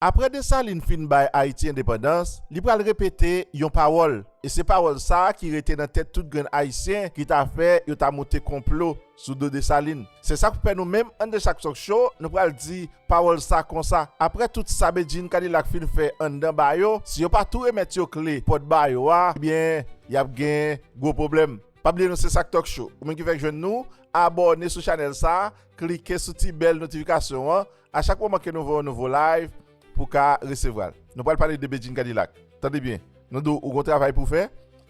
Apre Desalin fin bay Ayiti endepandans, li pral repete yon pawòl, e se pawòl sa a ki rete nan tèt tout grenn Ayisyen ki ta fè yo ta monte konplo sou do Desalin. Se sa k fè nou menm Andeschak Talk Show nou pral di pawòl sa konsa, apre tout sa Bedjine Kadilak fin fè anndan ba yo, si yo pa tou remèt yo kle pòt ba yo a, ebyen y ap gen gwo pwoblèm. Pa bliye nou se Sak Talk Show. Ou menm ki fèk jwenn nou, abòne sou chanèl sa a, klike sou ti bèl notifikasyon an, A chak moman ke nou voye yon nouvo live pou ka resevwal. Nou pral pale de Bedjine Cadillac. Tande byen. Nou di w ou gon travay pou w fè.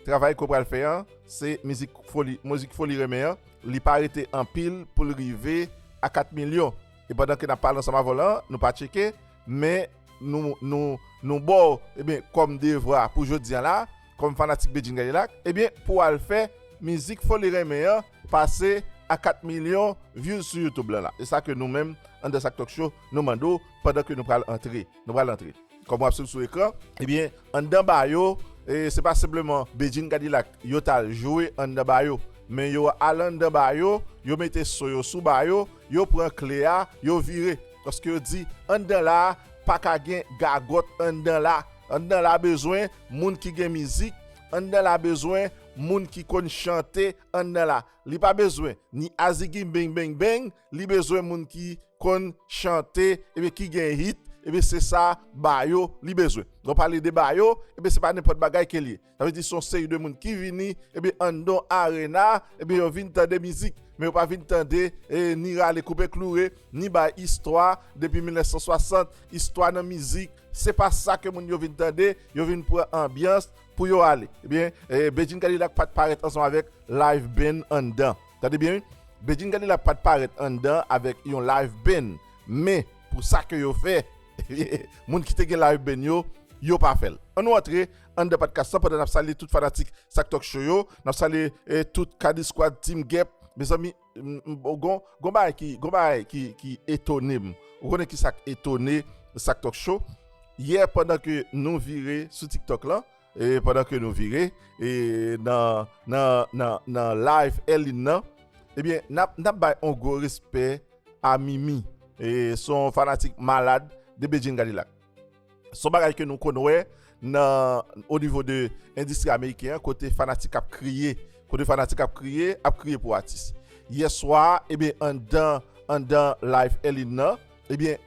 Travay ke w pral fè an se mizik foli, mozik foli renmen an. Li pa rete anpil pou l rive a 4 milyon. E pandan ke n ap pale ansanm avè w la, nou pa tcheke, men nou, nou, nou ba w, ebyen, kòm devwa pou jodi an la, Kòm fanatik Bedjine Kadilak ebyen pouw al fè mizik foli renmen an pase a 4 milyon views sou youtube lan la e sa ke nou menm AndanSakTalkShow nou mande w pandan ke nou pral antre nou pral antre kòm wap swiv sou ekran ebyen anndan ba yo e se pa senpleman Bedjine Kadilak yo tal jwe anndan ba yo men yo al anndan ba yo yo mete so yo sou ba yo yo pran kle a yo vire paske yo di anndan la paka gen gagòt anndan la. Anndan la bezwen moun ki gen mizik Anndan la bezwen moun ki konn chante Anndan la Li pa bezwen ni azigi beng beng beng Li bezwen moun ki konn chante Ebyen ki gen hit Ebyen se sa Bayo li bezwen Lè w pale de Bayo Ebyen se pa nenpòt bagay ke l ye Sa vle di son seri de moun ki vini ebyen anndan arena ebyen yo vin tande mizik men yo pa vin tande ni rale koupe kloure ni bay istwa depi 1960 istwa nan mizik se pa sa ke moun yo vin tande yo vin pran anbyans pou yo ale ebyen Bedjine Kadilak pat parèt ansanm avèk live band anndan tande byen wi Bedjine Kadilak pat parèt anndan avèk yon live band men pou sa ke yo fè moun ki te gen live band yo yo pa fèl annou antre Anndan padkas lan pandan nap salye tout fanatik sak talk show yo nap salye tout kadiskwad team gep mezanmi gon bagay ki etonem ou konnen kisak etone sak talk show yè pandan ke nou vire sou tik tok lan pandan ke nou vire nan live Elin nan ebyen nap bay yon gwo respè a mimi son fanatik malad de bedjine kadilak. Son bagay ke nou konn wè nan o nivo de endistri ameriken an kote fanatik ap kriye, kote fanatik ap kriye, ap kriye pou atis. Yè swa, ebyen anndan, anndan live Elin nan, ebyen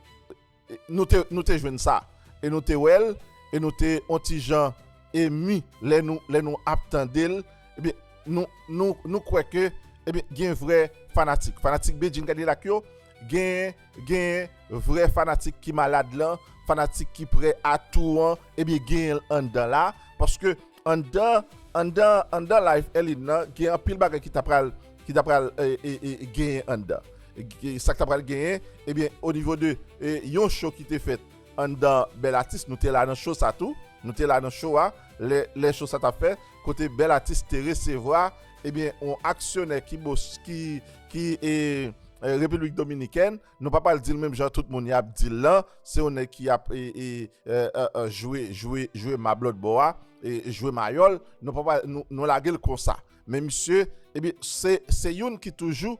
nou te, nou te jwenn sa. E nou te wè l, e nou te on ti jan emi lè nou, lè nou ap tande l, ebyen nou, nou, nou kwè ke ebyen gen vrè fanatik. Fanatik Bedjine Kadilak yo gen. Genyen vrè fanatik ki malad lan, fanatik ki prè a tou an, ebyen genyenl anndan la, paske anndan anndan anndan live Elin nan gen anpil bagay ki ta pral ki ta pral genyen anndan. Sak ta pral genyen ebyen o nivo de yon show ki te fèt anndan bèl atis nou te la nan show sa tou, nou te la nan show a lè show sa tap fèt kote bèl atis te resevwa Ebyen on aksyonè ki bos ki ki e Repiblik Dominikèn nou pa pral dil menm jan tout moun yap dil lan se yon nèg ki ap e e e jwe jwe jwe mab lòt bò a e jwe mayòl nou pa pral nou lagel konsa men misye ebyen se se youn ki toujou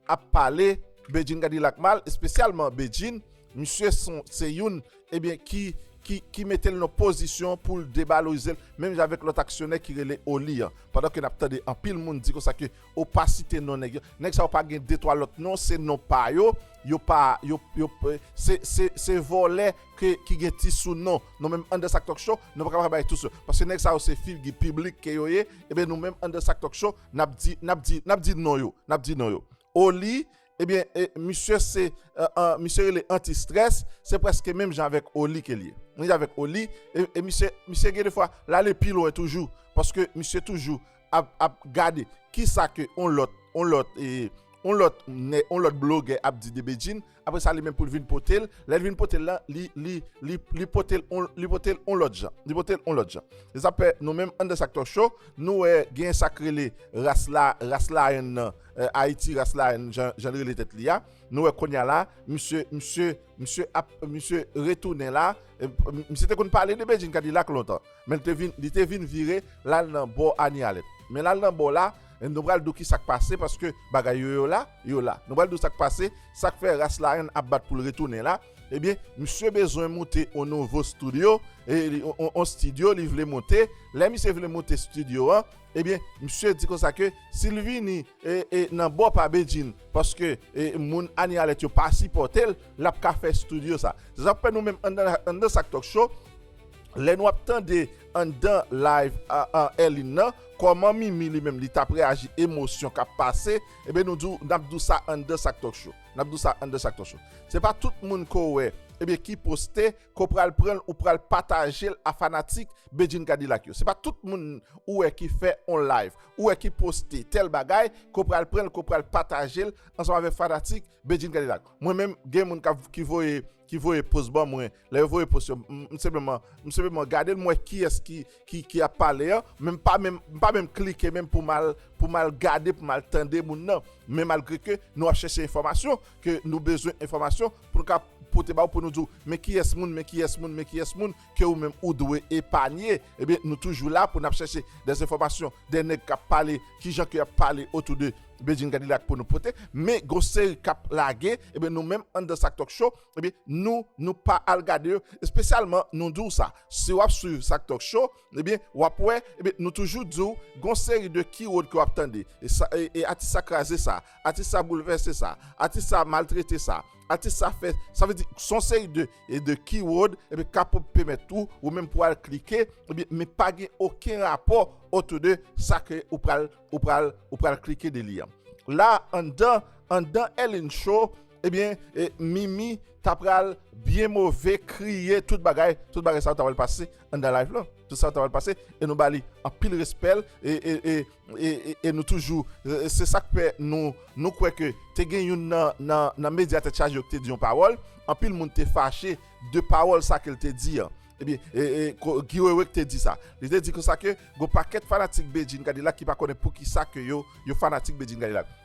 ap pale Bedjine Kadilak mal espesyalman Bedjine misye son se youn ebyen ki ki ki metel nan pozisyon poul debalorizel menm jan avèk lòt aksyonè ki rele Oli an pandan ke nap tande anpil moun di konsa ke ou pa site non nèg yo nèg sa yo pa gen de twa lòt non se non pa yo yo pa yo yo se se se vòlè ke ki gen ti sou non nou menm anndan sak tòkshow nou paka bay tou sou paske nèg sa yo se figi piblik ke yo ye ebyen nou menm anndan sak tòkshow N ap di, n ap di, n ap di non yo, n ap di non yo. Oli, ebyen, e, misye se, e, e, misye rele antistrès, se prèske menm jan avèk Oli ke l ye. Menm jan avèk Oli, e, e misye, misye gen defwa, l ale pi lwen toujou, paske misye toujou ap, ap gade ki sa ke yon lòt, yon lòt, e, yon lòt nè, yon lòt blogè ap di de Bedjine. Apre sa li menm pou l vin pote l. Lè l vin pote l la, li pote l yon lòt jan. Li pote l yon lòt jan. Se sa k fè nou menm anndan Sak Tòk Show, nou wè gen sa k rele ras la, ras Laèn nan, Ayiti ras Laèn jan l rele tèt li a. Nou wè kounye a la, misye, misye, misye ap, misye retounen la. Misye te konn pale de Bedjine Kadilak lontan. Men li te vin vire lal nan bò Anialèt. Men lal nan bò la, nou pral dou kisak pase paske bagay yo yo la, yo la. Nou pral dou sak pase, sak fè ras larenn ap bat poul retounen la. Ebyen, misye bezwen moute on nouvo studio, on studio li vle moute. Lè misye vle moute studio an, ebyen misye di konsa ke sil vini nan bò pa Bedjine paske moun Anialèt yo pa sipòtel, lap ka fè studio sa. Se sak fè nou menm anndan Sak Talk Show, Lè nou ap tande anndan live an Elin nan kòman Mimi li menm li tap reaji emosyon kap pase ebyen nou di nap di w sa anndan sak talk show nap di w sa anndan sak talk show se pa tout moun ke w wè ebyen ki poste ke w pral pran l ou pral pataje l a fanatik Bedjine Kadilak yo se pa tout moun ou wè ki fè on live ou wè ki poste tèl bagay ke w pral pran l ke w pral pataje l ansanm avèk fanatik Bedjine Kadilak mwen menm gen moun kap ki voye ki voye post ban mwen Lè yo voye post yo, m senpleman, m senpleman gade l m wè kiyès ki ap pale an, men m pa menm, m pa menm klike menm pou m al, pou m al gade, pou m al tande moun nan. Men malgre ke nou ap chèche enfòmasyon, ke nou bezwen enfòmasyon pou nou ka pote ba ou, pou nou di ou, men kiyès moun, men kiyès moun, men kiyès moun ke ou menm ou dwe epanye, ebyen nou toujou la pou n ap chèche dè enfòmasyon, dè nèg k ap pale, ki jan ke y ap pale otou de Bedjine Kadilak pou nou pote. Men gon seri k ap lage, ebyen nou menm anndan Sak Tòk Cho, Ebyen nou nou pa al gade yo espesyalman nou di w sa si w ap swiv sak talk show ebyen w ap wè ebyen nou toujou di w gon seri de keyword ke w ap tande e atis sa kraze sa atis sa boulvèse sa atis sa maltrete sa atis sa fè sa sa vle di son seri de e de keyword ebyen ka pou pèmèt tou ou menm pou al klike ebyen men pa gen oken rapò otou de sa ke ou pral ou pral ou pral klike de li an la anndan anndan Elin show Ebyen mimi ta pral byen move kriye tout bagay tout bagay sa yo ta pral pase anndan live lan tout sa yo ta pral pase e nou ba li anpil respè l e nou toujou se sak fè nou nou kwè ke te gen youn nan medya tèt chaje yo ki te di yon pawòl anpil moun te fache de pawòl sa ke l te di an ebyen Guy Wewe ki te di sa li te di konsa ke gon pakèt fanatik Bedjine Cadillac ki pa konnen poukisa ke yo yo fanatik Bedjine Cadillac.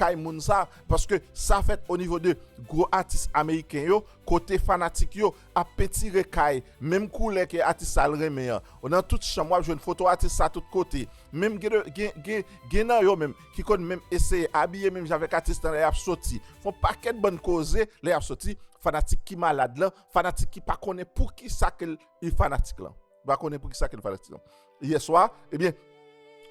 kay moun sa paske sa fèt o nivo de gwo atis ameriken yo kote fanatik yo ap pentire kay menm koulè ke atis sa l renmen an o nan tout chanm wap jwenn foto atis sa tout kote menm gen gen gen gen nan yo menm ki konn menm eseye abiye menm jan avèk atis lan lè yap soti fon pakèt bann koze lè yap soti fanatik ki malad lan fanatik ki pa konnen poukisa ke li fanatik lan. M pa konnen poukisa ke l fè aksidan. Yèswa, ebyen,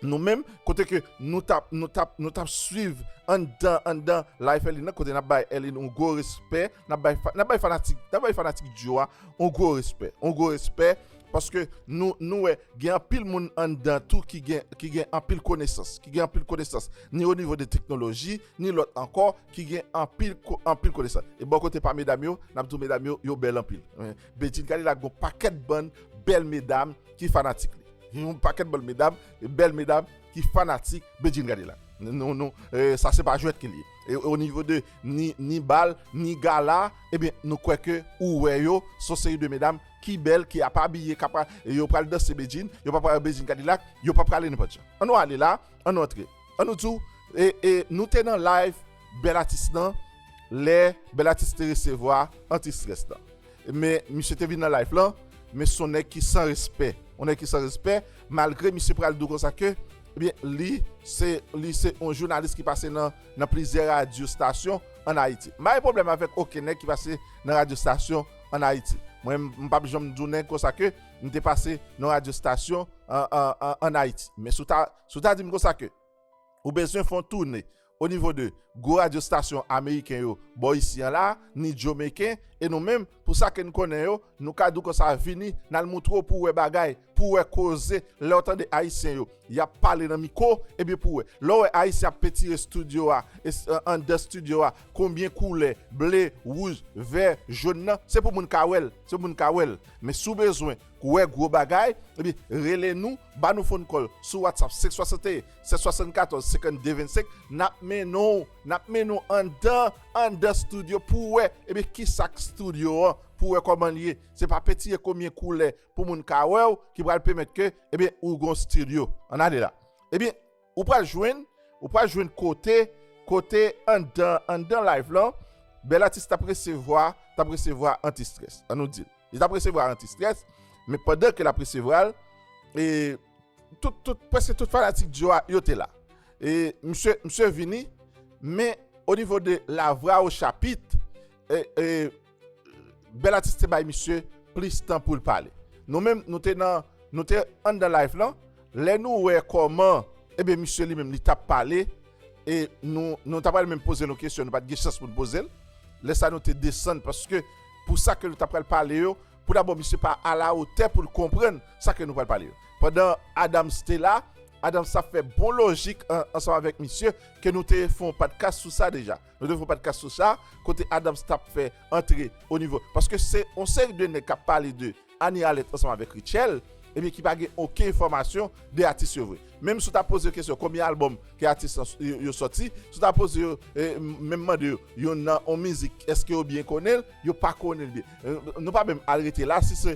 nou menm, kote ke nou t ap, nou t ap, nou t ap swiv anndan, anndan Life Elin nan, kote n ap bay Elin yon gwo respè, n ap bay, n ap bay fanatik, n ap bay fanatik dyo a yon gwo respè, yon gwo respè, paske nou, nou wè gen anpil moun anndan tou ki gen, ki gen anpil konesans, ki gen anpil konesans, ni o nivo de teknoloji, ni lòt ankò, ki gen anpil, anpil konesans. E bò kote pa medam yo, n ap di w medam yo, yo bèl anpil. Bedjine gade la gon pakèt bann bèl medam ki fanatik li yon pakèt bann medam bèl medam ki fanatik Bedjine gade la nou nou sa se pa jwèt ke li ye o nivo de ni ni bal ni gala ebyen nou kwè ke ou wè yo son seri de medam ki bèl ki ap abiye kap yo pral danse Bedjine yo pap pral Bedjine gade la yo pap prale nenpòt jan an nou ale la an nou antre. An nou diw e nou te nan live bèl atis nan lè bèl atis te resevwa anti strès nan men misye te vin nan live lan men son nèg ki san respè yon nèg ki san respè malgre misye pral diw konsa ke ebyen li se li se yon jounalis ki pase nan nan plizyè radyo stasyon an ayiti m pa gen pwoblèm avèk oken nèg ki pase nan radyo stasyon an ayiti mwen m pap janm di yon nèg konsa ke m te pase nan radyo stasyon an an an ayiti men si w ta Si w ta di m konsa ke ou bezwen fè yon toune o nivo de gwo radyo stasyon ameriken yo bò isi an la, ni jomeken, e nou menm, pou sa ke n konnen yo, nou ka di w konsa vini, n al moutre w pou w wè bagay, pou w wè koze, lè w tande ayisyen yo, y ap pale nan miko, ebyen pou w wè. Lè w wè ayisyen ap pentire stidyo a, e anndan stidyo a, konbyen koulè, ble, wouj, vè, jòn nan, se pou moun ka wè l, se pou moun ka wè l. Men si w bezwen Kouwè gwo bagay, epi rele nou, ba nou phone call sou WhatsApp 561 774 52 25 nap mennen w nap mennen w anndan anndan studio pou w wè epi kisa k studio an pou w wè kòman l ye se pa peti e konbyen koulè pou moun ka wè w ki pral pèmèt ke ebyen ou gon studio an ale la ebyen Ou pral jwenn, ou pral jwenn kote, kote anndan, anndan live lan, bèl atis tap resevwa, tap resevwa anti strès. An nou dil. Li tap resevwa anti strès, men pandan ke lap resevwal, e, tout, tout, preske tout fanatik Djo a, yo te la. E, msye, msye vini, men, o nivo de la vwa o chapit, e, e, Bel atis te bay misye plis tan poul pale. Nou menm nou te nan nou te anndan live lan lè nou wè koman ebyen misye li menm li tap pale e nou nou ta pral menm pozel yon kesyon nou pat gen chans poun pozel lè sa nou te desann paske pou sa ke nou ta pral pale yo pou dabò misye pa ala otè poul konprann sa ke nou pral pale yo. Pandan Adams te la Adams tap fè bon lojik ansanm avèk misye ke nou te fon padkas sou sa deja. Nou te fè yon podcast sou sa, kote Adams t ap fè antre o nivo, paske se yon seri de nèg k ap pale de Annie Alerte ansanm avèk Rutshelle, ebyen ki pa gen oken enfòmasyon de atis yo vre. Menm si w ta poze yo kesyon konbyen albòm ke atis yo sòti, si w ta poze yo, menm mande yo, yon nan yon mizik èske yo byen konnen l, yo pa konnen l byen. Nou pa menm al rete la, si se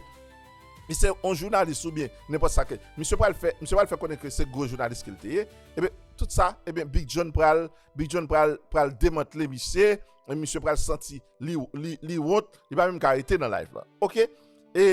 si se yon jounalis oubyen nenpòt sa ke misye pral fè, misye pral fè konnen ke se gwo jounalis ke l te ye, ebyen tout sa, ebyen Big John pral. Big John pral pral demantle misye e misye pral santi li li li wont li pa menm ka rete nan live lan ok e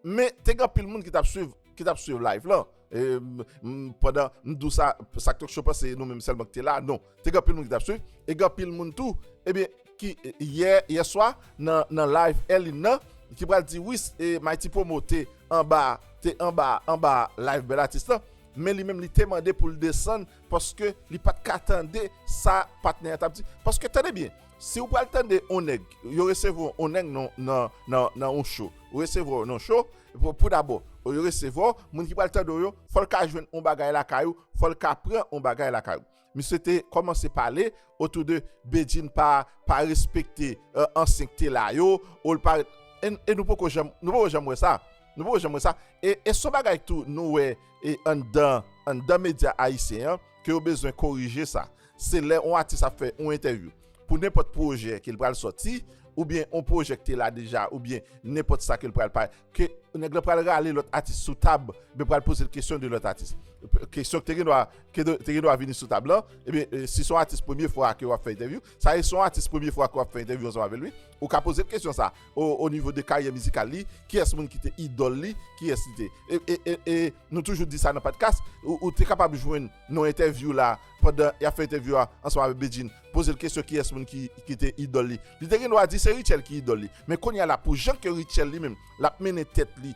men te gen anpil moun ki tap swiv ki tap swiv live lan e m pandan m dou sa sak tok cho panse nou menm sèlman ki te la non te gen anpil moun ki tap swiv e gen anpil moun tou ebyen ki yè yè swa nan nan live Elin nan ki pral di wi e Mighty Promo te anba te anba anba live Bel Atis lan men li menm li te mande pou l desann paske li pat ka tande sa patnè a tap di, paske tande byen si ou pral tande on nèg yo resevwa w on nèg nan on show yo resevwa w nan on show pou dabò yo resevwa w moun ki pral tande w yo fò l ka jwenn on bagay lakay ou fò l ka pran on bagay lakay ou misye te kòmanse pale otou de Bedjine pa respekte ansyen k te la yo ou l pa e nou poko janm nou poko janm wè sa nou poko janm wè sa e son bagay tou nou wè E anndan anndan medya ayisyen an ke yo bezwen korije sa. Se lè on atis ap fè on entèvyou pou nenpòt pwojè ke l pral sòti oubyen on pwojè k te la deja oubyen nenpòt sa ke l pral pale ke nèg lan pral rale lòt atis sou tab ebyen pral poze l kesyon de lòt atis. Kesyon k te gen dwa ke te gen dwa vini sou tab lan ebyen si s on atis premye fwa ke w ap fè entèvyou Sa ye son atis premye fwa ke wap fè entèvyou ansanm avèl wi, ou ka pozel kesyon sa o nivo de karyè mizikal li, kiyès moun ki te idòl li, kiyès li te e nou toujou di sa nan padkas ou te kapab jwenn nan entèvyou la pandan yap fè entèvyou a ansanm avèk Bedjine pozel kesyon kiyès moun ki te idòl li, li te gen dwa di se Rutshelle ki idòl li men kounya la pou jan ke Rutshelle li menm lap mennen tèt li.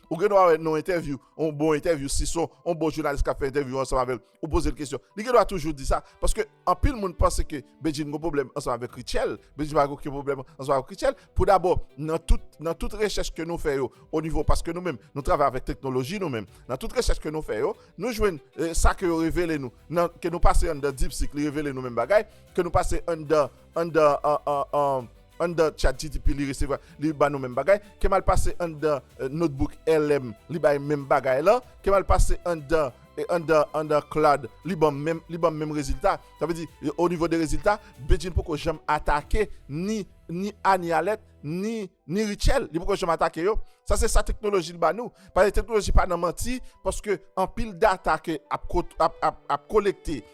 Ou gen dwa wè nan yon entèvyou, yon bon entèvyou, si son yon bon jounalis kap fè entèvyou ansanm avèl, ou pozel kesyon, li gen dwa toujou di sa, paske anpil moun panse ke Bedjine gon pwoblèm ansanm avèk Rutshelle, Bedjine pa gen oken pwoblèm ansanm avèk Rutshelle, pou dabò nan tout, nan tout rechèch ke nou fè yo, o nivo, paske nou menm nou travay avèk teknoloji nou menm, nan tout rechèch ke nou fè yo, nou jwenn sa ke yo revele nou, nan, ke nou pase anndan Deepseek li revele nou menm bagay, ke nou pase anndan, anndan, an, an, an. Anndan chatgtp li resevwa li ba nou menm bagay, kemal pase anndan notebook LM li bay menm bagay lan, kemal pase anndan anndan anndan claude li banm menm li banm menm rezilta sa vle di o nivo de rezilta Bedjine poko janm atake ni ni Annie Alerte ni ni Rutshelle li poko janm atake yo sa se sa teknoloji ba nou paske teknoloji pa nan manti paske anpil data ke ap ap ap kolekte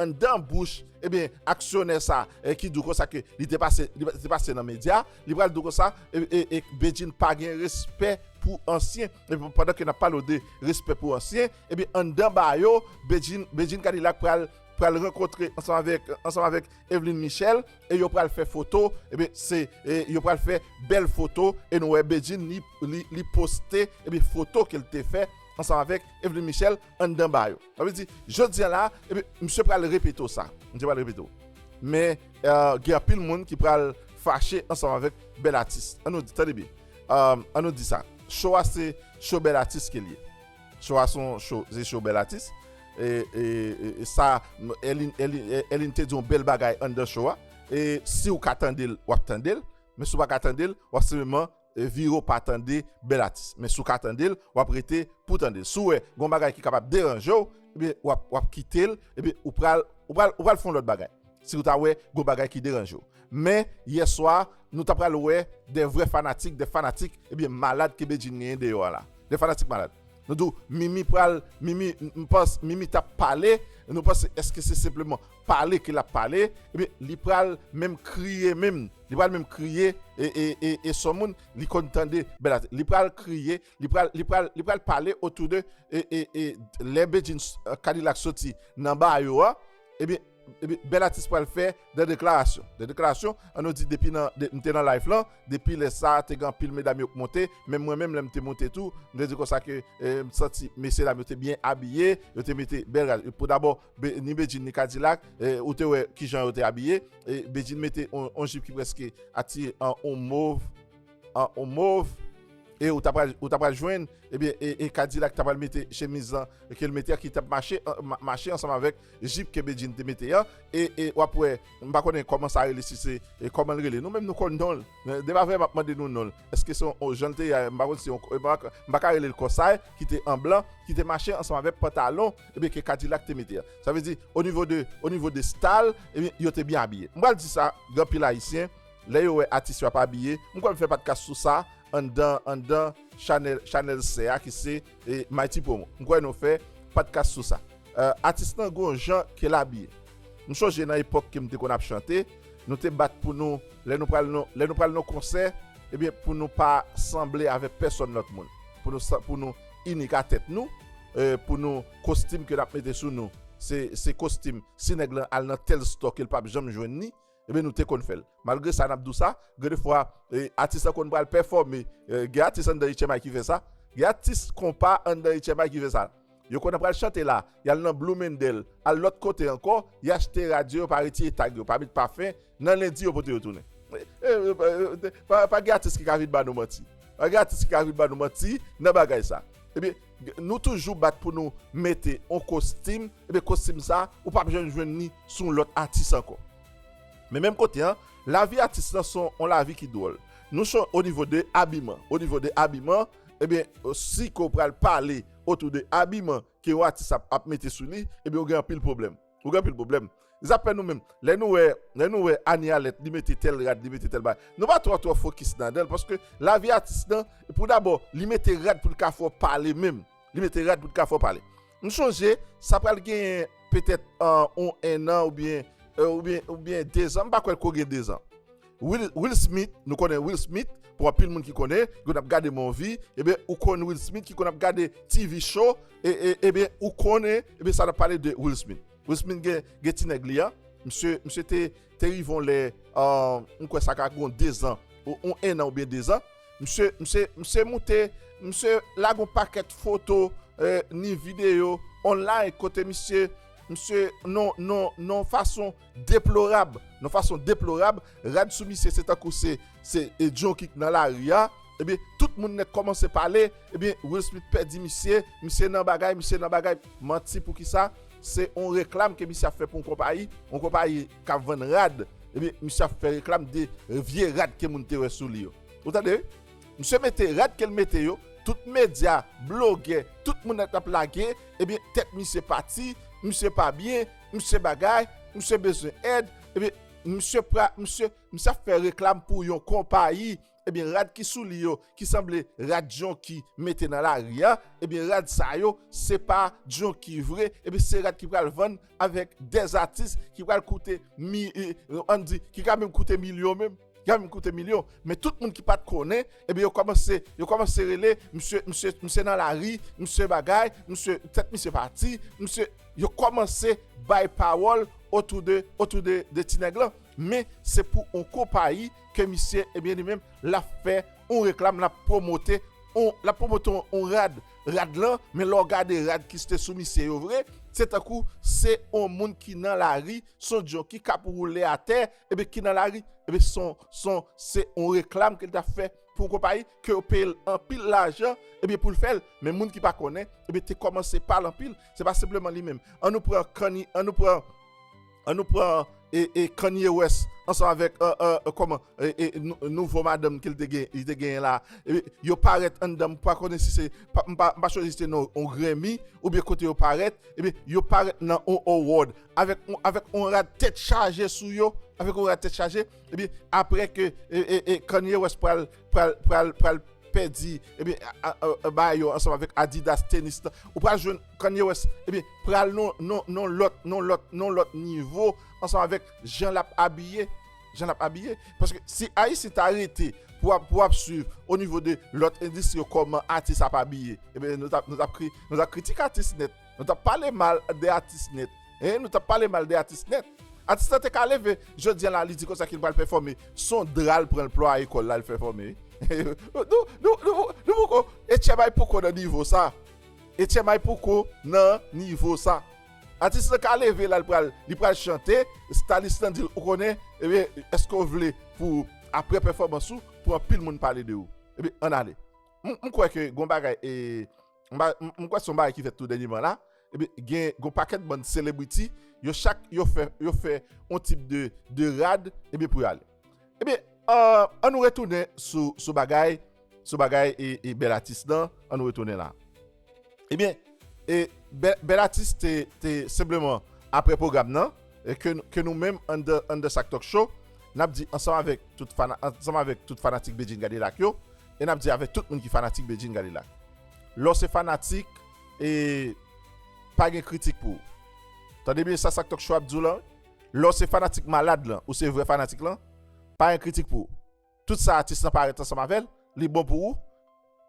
anndan bouch ebyen aksyonè sa ki dou konsa ke li te pase li te pase nan medya li pral dou konsa e Bedjine pa gen respè pou ansyen ebyen pandan ke nap pale w de respè pou ansyen ebyen anndan ba yo Bedjine Bedjine Kadilak pral pral rankontre ansanm avèk ansanm avèk Evelyne Michel e yo pral fè foto ebyen se e yo pral fè bèl foto e nou wè Bedjine li li poste ebyen foto ke l te fè ansanm avèk Evelyne Michel. anndan ba yo. Sa vle di, jodi a la, epi misye pral repete w sa. Misye pral repete w. Men, gen anpil moun ki pral fache ansanm avèk bèl atis. An nou di, tande byen. An nou di sa. Show a se show bèl atis ke l ye. Show a se yon show, se show bèl atis. E, e, e sa, Elin, Elin, Elin te di yon bèl bagay anndan show a. E si ou ka tande l, w ap tande l. Men si ou pa ka tande l, w ap senpleman. Vire w pa tande bèl atis. Men si w ka tande l, w ap rete pou w tande l. Si w wè gen yon bagay ki kapab deranje w, ebyen w ap, w ap kite l, epi ou pral, ou pral, ou pral fè yon lòt bagay. Si w ta wè gen yon bagay ki deranje w. Men, yè swa, nou ta pral wè de vrè fanatik, de fanatik, ebyen malad ke Bedjine genyen deyò a la. De fanatik malad. Nou di w, Mimi pral, Mimi, m panse, Mimi t ap pale, nou panse, èske se senpleman. pale ke lap pale ebyen li pral menm kriye menm li pral menm kriye e son moun li konn tande bèl atis li pral kriye li pral li pral li pral pale otou de e lè bedjine kadilak soti nan ba yo a ebyen ebyen bèl atis pral fè de deklarasyon de deklarasyon an nou di depi nan m te nan live lan depi lè sa te gen anpil medam yo k monte menm mwen menm lè m te monte tou m te di konsa ke m santi mesye dam yo te byen abiye yo te mete bèl pou dabò ni Bedjine ni Kadilak ou te wè kijan yo te abiye Bedjine mete yon jip ki preske ati yon mov yon mov e ou ta pral ou ta pral jwenn ebyen e Kadilak ta pral mete chemiz lan ke l mete an ki tap mache mache ansanm avèk jip ke Bedjine te mete an e wap wè m pa konnen kòman sa rele si se kòman l rele nou menm nou konn non l de pa vre map mande nou non l èske se yon jan l te ye a m pa konn si m pa ka rele l kòsay ki te an blan ki te mache ansanm avèk pantalon Ebyen ke kadilak te mete a. Sa vle di o nivo de o nivo de stal ebyen yo te byen abiye. M pral di sa gen anpil ayisyen lè yo wè atis yo ap abiye m kwè m fè patkas sou sa anndan anndan chanèl chanèl sè a ki se Mighty Promo. M kwè nou fè patkas sou sa. Atis lan gen yon jan ke l abiye. M chonje nan epòk ke m te konn ap chante nou te bat pou nou lè nou pral nan lè nou pral nan yon konsè ebyen pou nou pa sanble avèk pèsòn lòt moun pou nou sa pou nou inik a tèt nou pou nou kostim ke nap mete sou nou se kostim si nèg lan al nan tèl stòk el pap janm jwenn ni ebyen nou te konn fèl malgre sa nap di w sa gen de fwa atis lan konn pral pèfòme gen atis anndan etchèmay ki fè sa gen atis konpa anndan etchèmay ki fè sa yo konn pral chante la yal nan blou mendèl al lòt kote ankò yachte radyo yo pa retire tag yo pa met pafen Nan lendi yo pote yo tounen. Pa gen atis ki ka vin ba nou manti. Pa gen atis ki ka vin ba nou manti nan bagay sa. Ebyen, nou toujou bat pou nou mete yon kostim, ebyen kostim sa ou pap janm jwenn li sou yon lòt atis ankò. Men menm kote an, lavi atis lan son yon lavi ki dwòl. Nou son o nivo de abiman. O nivo de abiman, ebyen si ke ou pral pale otou de abiman ke yon atis ap mete sou li, ebyen ou gen anpil pwoblèm. Ou gen pil pwoblèm. Zafè nou menm, lè nou wè, lè nou wè Anie Alerte li mete tèl rad, li mete tèl bagay, nou pa twò twò fokis ladan l paske lavi atis lan, pou dabò, li mete rad pou l ka fè w pale menm. Li mete rad pou l ka fè w pale. M chonje, sa pral genyen petèt on ennan oubyen, oubyen, oubyen dezan, m pa kwè l ko gen dezan. Will Smith nou konnen Will Smith pou anpil moun ki konnen ki konn ap gade movie ebyen ou konn Will Smith ki konn ap gade TV show ebyen ou konnen ebyen sa nap pale de Will Smith Will Smith gen ti nèg li an misye misye te te rive yon lè m kwè sa ka gon 2 zan ou 1 nan oubyen 2 zan misye misye misye moute misye lage yon pakèt foto ni videyo online kote misye misye non non non fason Deplorab, yon fason deplorab, rad sou misye se tankou se se John Wick nan lari a, ebyen tout moun nèt kòmanse pale, ebyen Will Smith pèdi misye, misye nan bagay, misye nan bagay, manti poukisa, se yon reklam ke misye ap fè pou yon konpayi, yon konpayi k ap vann rad, ebyen misye ap fè reklam de vye rad ke moun te wè sou li yo. Ou tande wi? Misye mete rad ke l mete yo, tout medya, blogè, tout moun nèt ap lage, ebyen tèt misye pati, misye pa byen, misye bagay, misye bezwen èd, ebyen misye pra, misye, misye ap fè reklam pou yon konpayi, ebyen rad ki sou li yo, ki sanble rad Djonki mete nan lari a, ebyen rad sa yo, se pa Djonki vre, ebyen se rad ki pral vann avèk 2 atis ki pral koute mi, an di, ki ka menm koute milyon menm. Gade m koute milyon men tout moun ki pat konnen ebyen yo kòmanse yo kòmanse rele misye misye misye nan lari misye bagay misye tèt misye pati misye yo kòmanse bay pawòl otou de otou de de ti nèg lan men se pou on konpayi ke misye ebyen li menm lap fè on reklam lap pwomote on lap pwomote on rad rad lan men lè w gade rad ki ste sou misye yo vre se tankou se on moun ki nan lari se on djon ki kap woule atè. Ebyen ki nan lari, ebyen son, son, se yon reklam ke li ta fè pou yon konpayi, ke yo peye l anpil lajan, ebyen pou l fè l. Men moun ki pa konnen, ebyen te kòmanse pa l anpil, se pa senpleman li menm. An nou pran Kani, an nou pran, an nou pran e, e Kanye West ansanm avèk e, e, e kòman, e, e nouvo madanm ke l te gen, li te genyen la. Ebyen yo parèt anndan, m pa konnen si se, m pa, m pa chwazi si se nan yon Grammy oubyen kote yo parèt, ebyen yo parèt nan yon award. avèk yon rad tèt chaje sou yo, avèk yon rad tèt chaje, epi apre ke Kanye West pral pèdi, epi ba yo ansanm avèk Adidas tenis la, ou pral jwenn Kanye West, epi pral non lòt, non lòt, non lòt nivo, ansanm avèk jan lap abiye, jan lap abiye, paske si Ayisyen ta rete pou ap swiv o nivo de lòt endistri yo kòman atis ap abiye, epi nou tap kritik atis nèt. Nou tap pale mal de atis net. Eeh nou tap pale mal de atis net. Atis la te ka leve jodian la li di konsa kel pral pèfòme son dra l pranl plwaye kòl lal pèfòme Nou poko Etchebay poko nan nivo sa Etchebay poko nan nivo sa Atis la ka leve la li pral chante stalis lan dil ou konnen ebyen eske w vle pou aprè pèfòmans ou pou anpil moun pale de ou ebyen ann ale M kwè ke gon bagay eee. m kwè son bagay ki fèt tou dènyeman la, epi gen yon pakèt bann selebriti, yo chak yo fè, yo fè yon tip de rad, epi pou yo ale. Epi, an nou retounen sou bagay, sou bagay e bèl atis nan, an nou retounen la. Epi, e bèl atis te, te senpleman apre pwogram nan, ke nou menm anndan Sak Tok Show, n ap di ansanm avèk tout fanatik Bedjine Kadilak yo, e nap di avèk tout moun ki fanatik Bedjine Kadilak lè w se fanatik e pa gen kritik pou ou tande byen sa sak tòkshow ap di w lan lè w se fanatik malad lan ou se vrè fanatik lan pa gen kritik pou ou tout sa atis lan parèt ansanm avèl li bon pou ou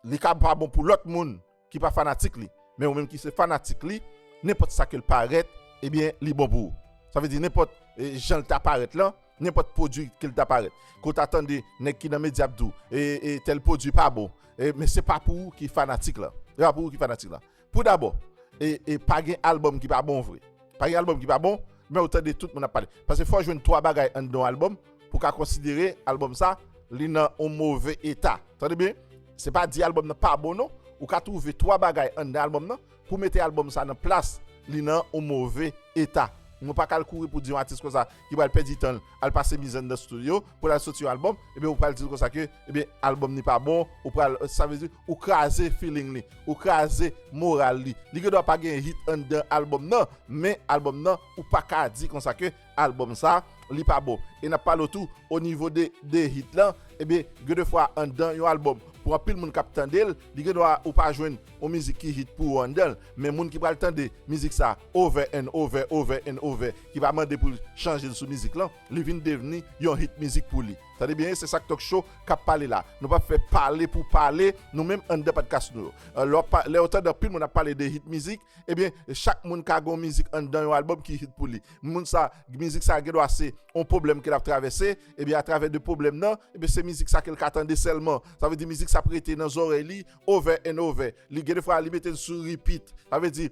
li ka pa bon pou lòt moun ki pa fanatik li, men ou menm ki se fanatik li, nenpòt sa ke l parèt, ebyen, li bon pou ou. Sa vle di nenpòt jan l ta parèt lan, nenpòt pwodui ke l ta parèt, ke w ta tande nèg ki nan medya ap di w, e, e, tèl pwodui pa bon, e, men se pa pou ou ki fanatik lan. Se pa pou ou ki fanatik lan. Pou dabò, e, e, pa gen albòm ki pa bon vre. Pa gen album ki pa bon, men ou tande tout moun ap pale. Pase fò jwenn 3 bagay anndan yon album pou ka konsidere album sa li nan yon move eta. Tande byen, se pa di album nan pa bon non. Ou ka twouve 3 bagay anndan album nan pou mete album sa nan plas li nan yon move eta. Mwen pa ka al kouri pou di yon atis konsa ki pral pèdi tan l al pase mizè nan studio pou l al soti yon album ebyen ou pral di l konsa ke ebyen album ni pa bon ou pral sa vle di ou kraze feeling li ou kraze moral li li gen dwa pa gen hit anndan album nan men album nan ou pa ka di konsa ke album sa li pa bon e n ap pale w tou o nivo de de hit lan ebyen gen de fwa anndan yon album pou anpil moun k ap tande l li gen dwa ou pa jwenn yon mizik ki hit pou ou anndan l men moun ki pral tande mizik sa. Over and Over Over and Over ki pa mande pou l chanje l sou mizik lan, li vin devni yon hit mizik pou li. Tande byen se sak Talk Show kap pale la. Nou pap fè pale pou pale nou menm anndan Padkas nou yo. Lè wap lè ou tande anpil moun ap pale de hit mizik, ebyen chak moun ka gon mizik anndan yon album ki hit pou li. Moun sa mizik sa gendwa se on pwoblèm ke lap travèse, ebyen atravè de pwoblèm nan, ebyen se mizik sa ke l ka tande sèlman. Sa vle di mizik sa ap rete nan zòrèy li over and over, li gen de fwa li mete l sou repeat, sa vle di,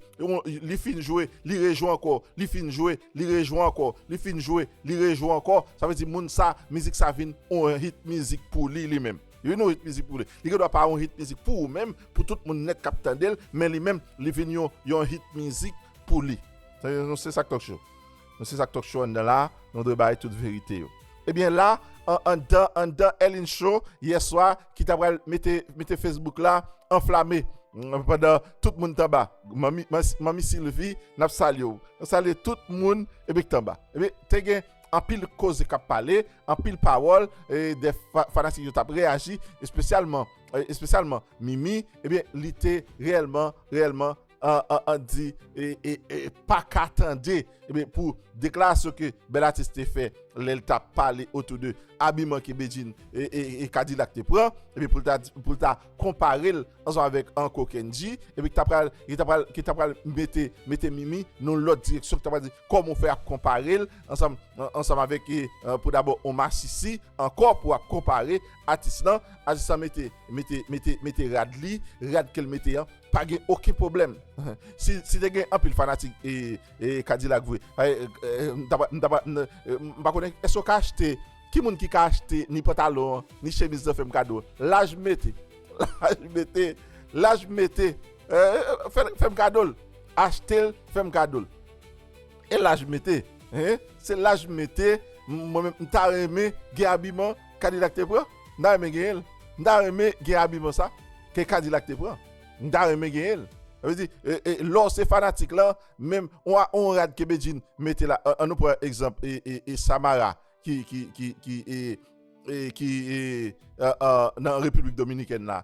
li fin jwe, li rejwe ankò, li fin jwe, li rejwe ankò, li fin jwe, li rejwe ankò, sa vle di moun sa, mizik sa vin yon hit mizik pou li li menm. Li vin yon hit mizik pou li. Li gen dwa pa yon hit mizik pou ou menm, pou tout moun nèt k ap tande l, men li menm, li vin yon hit mizik pou li. Se sa k tonk chou. Nou se sak talk show anndan la, nou dwe bay tout verite yo. Ebyen la an anndan anndan Elin show yè swa ki ta pral mete mete Facebook la anflame pandan tout moun t anba. Manmi manmi Sylvie nap salye w. Nou salye tout moun ebyen k t anba. Ebyen te gen anpil koze kap pale, anpil pawòl e dè fanatik yo tap reyaji espesyalman espesyalman Mimi ebyen li te reyèlman reyèlman an di e pa ka tande pou deklarasyon ke Bèl Atis te fè lè l tap pale otou de abiman ke Bedjine e Kadilak te pran pou l ta konpare l ansanm avèk Anko Kendji e ki ta pral mete Mimi nan yon lòt direksyon ki ta pral di kòman ou fè ap konpare l ansanm avèk pou dabò yon masisi ankò pou ap konpare Atis lan Atis lan mete rad li rad ke l mete an Pa gen oken pwoblèm. Si te gen anpil fanatik Kadilak vre, m ta pral, m ta pral, m pa konnen, èske ou ka achte, ki moun ki ka achte ni pantalon an, ni chemiz lan fè m kado? Laj m mete, laj m mete, laj m mete, fè m kado l, achte l, fè m kado l. E laj m mete, se laj m mete, mwen menm m ta renmen gen abiman Kadilak te pran. M ta renmen genyen l. M ta renmen gen abiman sa ke Kadilak te pran. M ta renmen genyen l. Sa vle di, lè w se fanatik lan, menm yon rad ke Bedjine mete la, an nou pran egzanp Samara ki nan Repiblik Dominikèn la.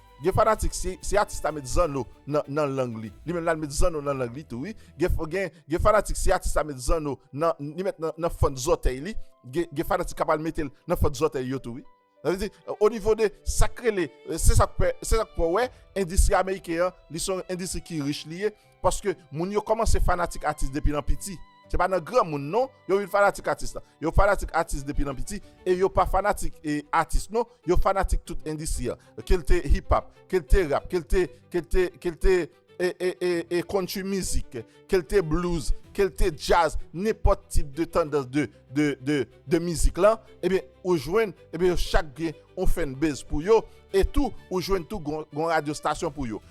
Gen fanatik si si atis la met zanno nan nan lang li li menm lal met zanno nan lang li tou wi gen gen gen fanatik si atis la met zanno nan li met nan nan fant zòtèy li gen gen fanatik kap al metel nan fant zòtèy yo tou wi sa vle di onivo de sak rele se sak fè se sak fè wè endistri ameriken an li son endistri ki rich li ye Paske moun yo kòmanse fanatik atis depi nan piti. Se pa nan granmoun non, yo vin fanatik atis la. Yo fanatik atis depi nan piti e yo pa fanatik atis non, yo fanatik tout endistri an. Ke l te hip hop, ke l te rap, ke l te, ke l te, ke l te ee country music, ke l te blues, ke l te jazz, nenpòt tip de tandans de, de, de. de mizik lan ebyen ou jwenn ebyen yo chak gen yon fanbase pou yo e tou ou jwenn tou gon gon radyo stasyon pou yo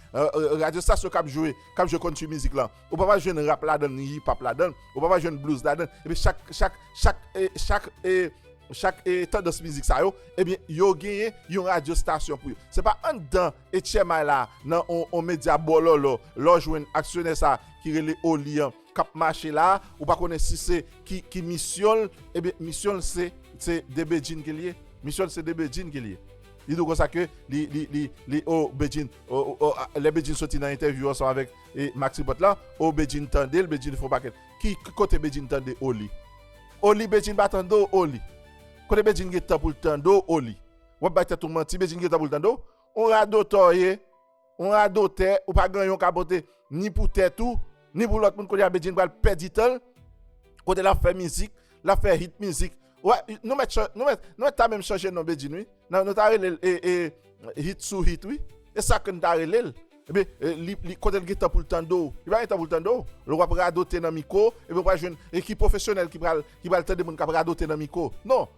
radyo stasyon kap jwe kap jwe country mizik lan ou papa jwenn rap ladann ni hip hop ladann ou papa jwenn blues ladann ebyen chak chak chak e chak e chak e tandans mizik sa yo ebyen yo genyen yon radyo stasyon pou yo se pa anndan etchèmay la nan yon yon medya bòlòlò lè w jwenn aksyonè sa ki rele oli an kap mache la ou pa konnen si se ki ki misyon l ebyen misyon l se se de bedjine ke l ye misyon l se de bedjine ke l ye li dou konsa ke li li li li o bedjine o o lè bedjine soti nan entèvyou ansanm avèk e maxipot la o bedjine tande l bedjine fon pakèt ki ki kote bedjine tande o li o li bedjine pa tande w o li kote bedjine gen tan pou l tande w o li wap bay tèt ou manti bedjine gen tan pou l tande w on radotè w ye On radotè ou pa gen yon kapote ni pou tèt ou ni pou lòt moun kounye a Bedjine pral pèdi tanl kote lap fè mizik lap fè hit mizik wè nou mèt nou mèt ta menm chanje non Bedjine wi nan nou ta relel hit sou hit wi e sa ken ta relel epi li kotel gentan poul tande w li pa gentan poul tande w lè wap radote nan miko epi ou pral jwenn e ki pwofesyonèl ki pral tande moun kap radote nan miko non.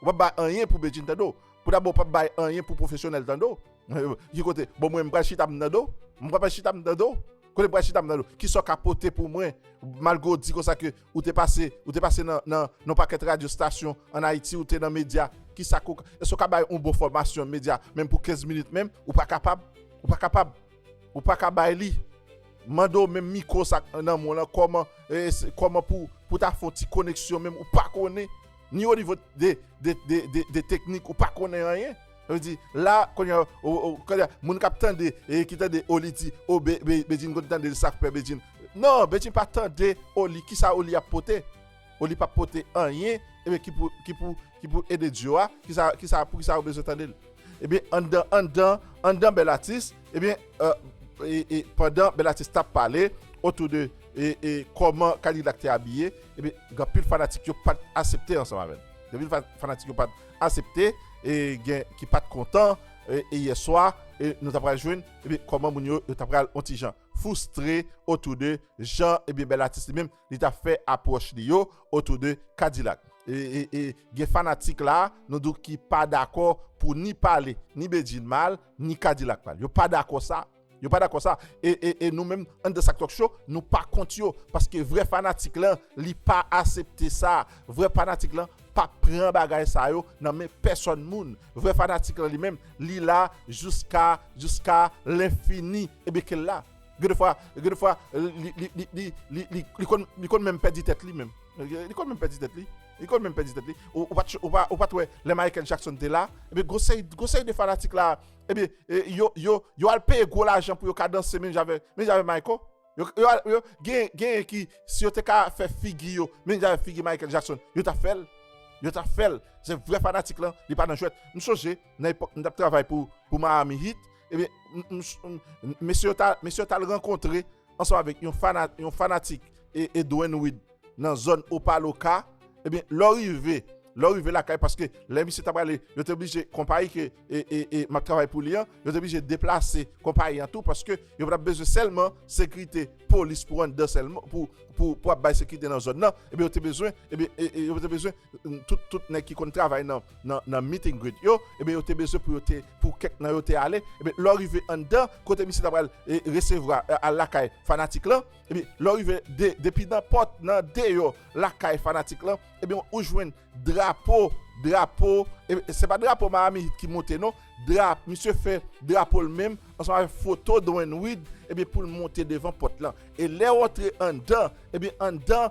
Ou pap bay anyen pou Bedjine tande w. Pou dabo ou pap bay anyen pou pwofesyonèl tande w. Ki kote, bon mwen m pral chita m tande w? M pa pral chita m tande w? Kote m pral chita m tande w? Kisa w ka pote pou mwen? Malgre ou di konsa ke ou te pase, ou te pase nan, nan yon pakèt radyo stasyon an Ayiti, ou te nan medya, kisa ke w, èske w ka bay yon bon fòmasyon medya menm pou 15 minit menm? Ou pa kapab. Ou pa kapab. Ou pa ka bay li. M mande w menm mikwo sa k nan men w lan kòman, kòman pou, pou ta fè yon ti koneksyon menm ou pa konnen. Ni o nivo de de de de de teknik ou pa konnen anyen. Sa vle di la kounye a o o kounye a moun k ap tande e ki tande o li di o be be Bedjine konn tande l sa k fè Bedjine non Bedjine pa tande o li ki sa o li ap pote o li p ap pote anyen ebyen ki pou ki pou ki pou ede duo a ki sa ki sa pou ki sa yo bezwen tande l ebyen anndan anndan anndan bèl atis Ebyen, e pandan bèl atis tap pale otou de e kòman Kadilak te abiye, ebyen gen anpil fanatik yo pat asepte ansanm avè l. Gen anpil fanatik yo pat asepte e gen ki pat kontan e yè swa e nou ta pral jwenn ebyen kòman moun yo ta pral on ti jan foustre otou de jan ebyen bèl atis li menm li ta fè apwòch li yo otou de Kadilak. E gen fanatik la a, nou di w ki pa dakò pou ni pale ni Bedjine mal, ni Kadilak mal. Yo pa dakò sa. Yo pa dakò sa. E nou menm anndan Sak Talk Show, nou pa kont yo. Paske vrè fanatik lan, li pa asepte sa. Vrè fanatik lan pa pran bagay sa yo nan men pèsòn moun. Vrè fanatik lan li menm, li la jouska, jouska lenfini. Ebyen ke l la. Gen de fwa, gen de fwa li konn menm pèdi tèt li menm. Li konn menm pèdi tèt li. Li konn menm pèdi tèt li. Ou pa t wè lè Michael Jackson te la, ebyen gwo seri, gwo seri de fanatik la, ebyen yo al peye gwo lajan pou yo ka danse menm jan avèk, menm jan avèk Mayko. Yo al, yo, gen, genyen ki si yo te ka fè figi yo menm jan avèk figi Michael Jackson, yo t ap fè l. Yo t ap fè l. Se vrè fanatik lan, li pa nan jwèt. M sonje nan epòk m t ap travay pou Miami Heat. Ebyen, mesye yo tal rankontre ansanm avèk yon fanatik e Dwayne Wade nan zòn Opa-Locka. Ebyen, lè w rive, lè w rive lakay, paske lè misye ta prale, yo te oblije, konpayi ke m ap travay pou li an, yo te oblije deplase konpayi an tou, paske yo pa t ap bezwen sèlman sekirite polis pou anndan sèlman, pou ap bay sekirite nan zòn nan, ebyen yo te bezwen, ebyen yo te bezwen tout nèg ki konn travay nan. nan meet and greet yo, eben yo te bezwen pou yo te, pou kèk nan yo te ale, eben lè w rive anndan, kote misye ta pral resevwa, al lakay fanatik lan, eben lè w rive depi nan pòt, nan deyò lakay fanatik lan, eben ou jwenn drapo, drapo, eben se pa drapo Miami Heat ki monte non, drapo, misye fè drapo l menm, ansanm avèk foto Dwayne Wade, eben pou l monte devan pòt lan, e lè w antre anndan, eben anndan,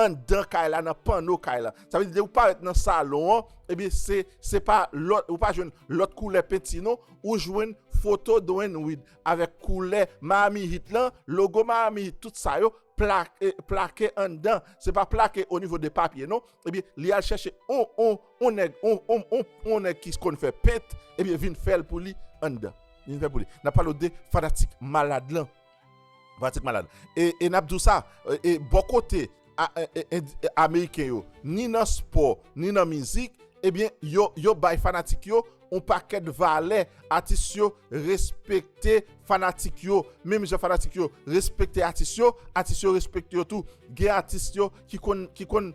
anndan kay la nan panno kay la. Sa vle di lè ou parèt nan salon an, ebyen se se pa lòt, ou pa jwenn lòt koulè penti non, ou jwenn foto Doyen Wid avèk koulè Miami Heat lan, logo Miami Heat tout sa yo plake plake anndan, se pa plake o nivo de papye non. Ebyen li al chèche on on on nèg on on on on nèg ki konn fè pent ebyen vin fè l pou li anndan. Vin fè l pou li. N ap pale w de fanatik malad lan. Pratik malad. E n ap di w sa, bò kote ameriken yo, ni nan spò, ni nan mizik, ebyen yo bay fanatik yo yon pakèt valè. Atis yo respekte fanatik yo. Menm jan fanatik yo respekte atis yo, atis yo respekte yo tou. Gen atis yo ki konn.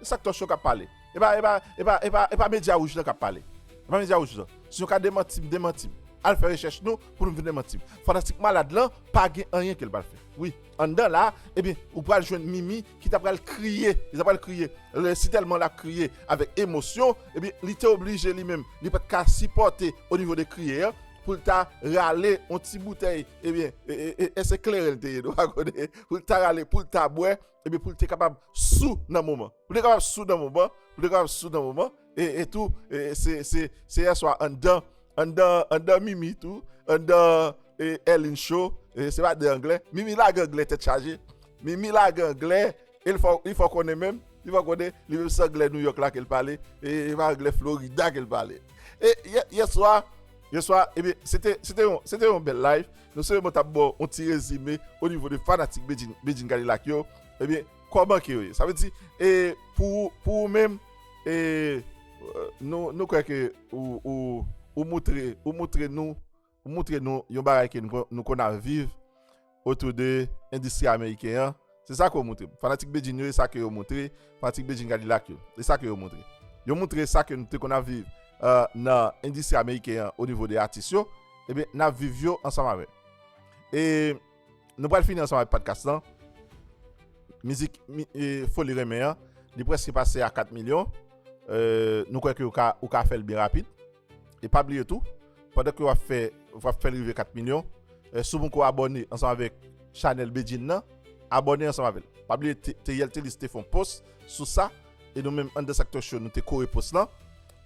E sak tòch yo kap pale. Epa epa epa epa epa media rouj lan kap pale. Epa media rouj lan. Si nou ka demantim demantim. Al fè rechèch nou pou nou vin demantim. Fantastik malad lan pa gen anyen kel pral fè. Wi. Anndan la ebyen ou pral jwenn Mimi ki ta pral kriye. Li ta pral kriye. Lè si tèlman lap kriye avèk emosyon ebyen li te oblije li menm li pat ka sipòte o nivo de kriye an poul ta rale on ti boutèy ebyen e e e èske se kleren li te ye nou pa konnen. Poul ta rale poul ta bwè. Ebyen pou li te kapab sou nan moman. Pou li te kapab sou nan moman, pou li te kapab sou nan moman, e e tou e se se se yè swa anndan anndan anndan mimi tou anndan e Elin show e se pa de anglè mimi lage anglè tèt chaje mimi lage anglè e li fè w li fè w konnen menm li fè w konnen li menm se anglè New York la ke l pale e e pa anglè Florida ke l pale e yè yè swa Yeswa ebyen se te yon bèl live nou se mwen tap baw yon ti rezime o nivo de fanatik Bedjine Kadilak yo ebyen kòman ke yo ye sa vle di e pou ou menm e nou kwè ke ou moutre nou yon bagay ke nou konn ap viv otou de endistri ameriken an, se sa ke yo moutre m. Fanatik Bedjine yo, e sa ke yo moutre, fanatik Bedjine Kadilak yo, e sa ke yo moutre. Yo moutre sa ke nou te konn ap viv nan endistri ameriken an o nivo de atis yo, ebyen n ap viv yo ansanm avè. E nou pral fini ansanm avè padkas lan. Mizik Foli Renmen an, li preske pase a 4 milyon. Nou kwè ke ou ka fè l byen rapid. E pa bliye tou pandan ke wap fè wap fèl rive 4 milyon sou poko abòne ansanm avèk chanèl Bedjine nan abòne ansanm avèl pa bliye Theriel Thelus te fon post sou sa e nou menm AnDanceActorShow nou te kore post lan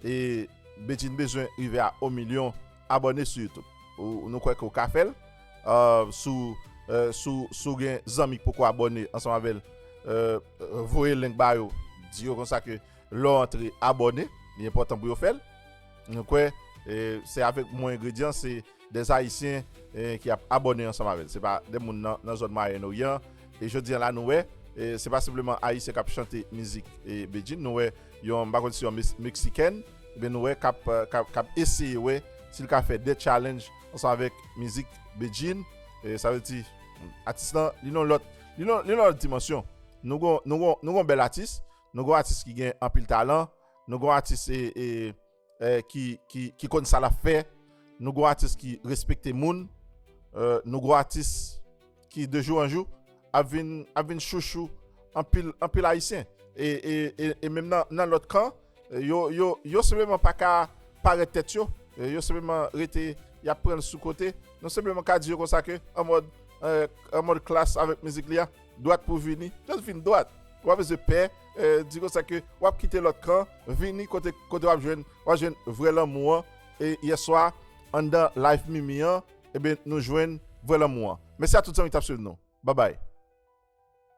e Bedjine bezwen rive a 1 milyon abòne sou YouTube ou nou kwè ke ou ka fèl sou sou gen zanmi ki poko abòne ansanm avèl voye link ba yo di yo konsa ke Lè w antre abòne, li enpòtan pou yo fè l. Mwen kwè se avèk mwen engredyan se 2 Ayisyen ki ap abòne ansanm avè l. Se pa 2 moun nan zòn Mwayen Oryan. E jodi an la nou wè se pa senpleman Ayisyen k ap chante mizik Bedjine. Nou wè yon, m pa konn si yon Meksikèn oubyen nou wè k ap eseye wè si l ka fè 2 tchalenj ansanm avèk mizik Bedjine. Sa vle di atis lan li nan yon lòt dimansyon. Nou gen yon bèl atis. Nou gon atis ki gen anpil talan, nou gon atis ki konn sa lap fè, nou gon atis ki respekte moun, nou gon atis ki de jou an jou ap vin chouchou anpil ayisyen. E menm nan lòt kan, yo senpleman pa ka parèt tèt yo, yo senpleman rete yap pran sou kote, nou senpleman ka di yo konsa ke an mòd klass avèk mizik li a. Dwat pou vini, just vin dwat. Ou pa bezwen pè, di konsa ke wap kite lòt kan, vini kote kote wap jwenn wap jwenn vrè lanmou an e yèswa anndan live mimi an ebyen nou jwenn vrè lanmou an. Mèsi a tout zanmi ki tap swiv nou. Babay.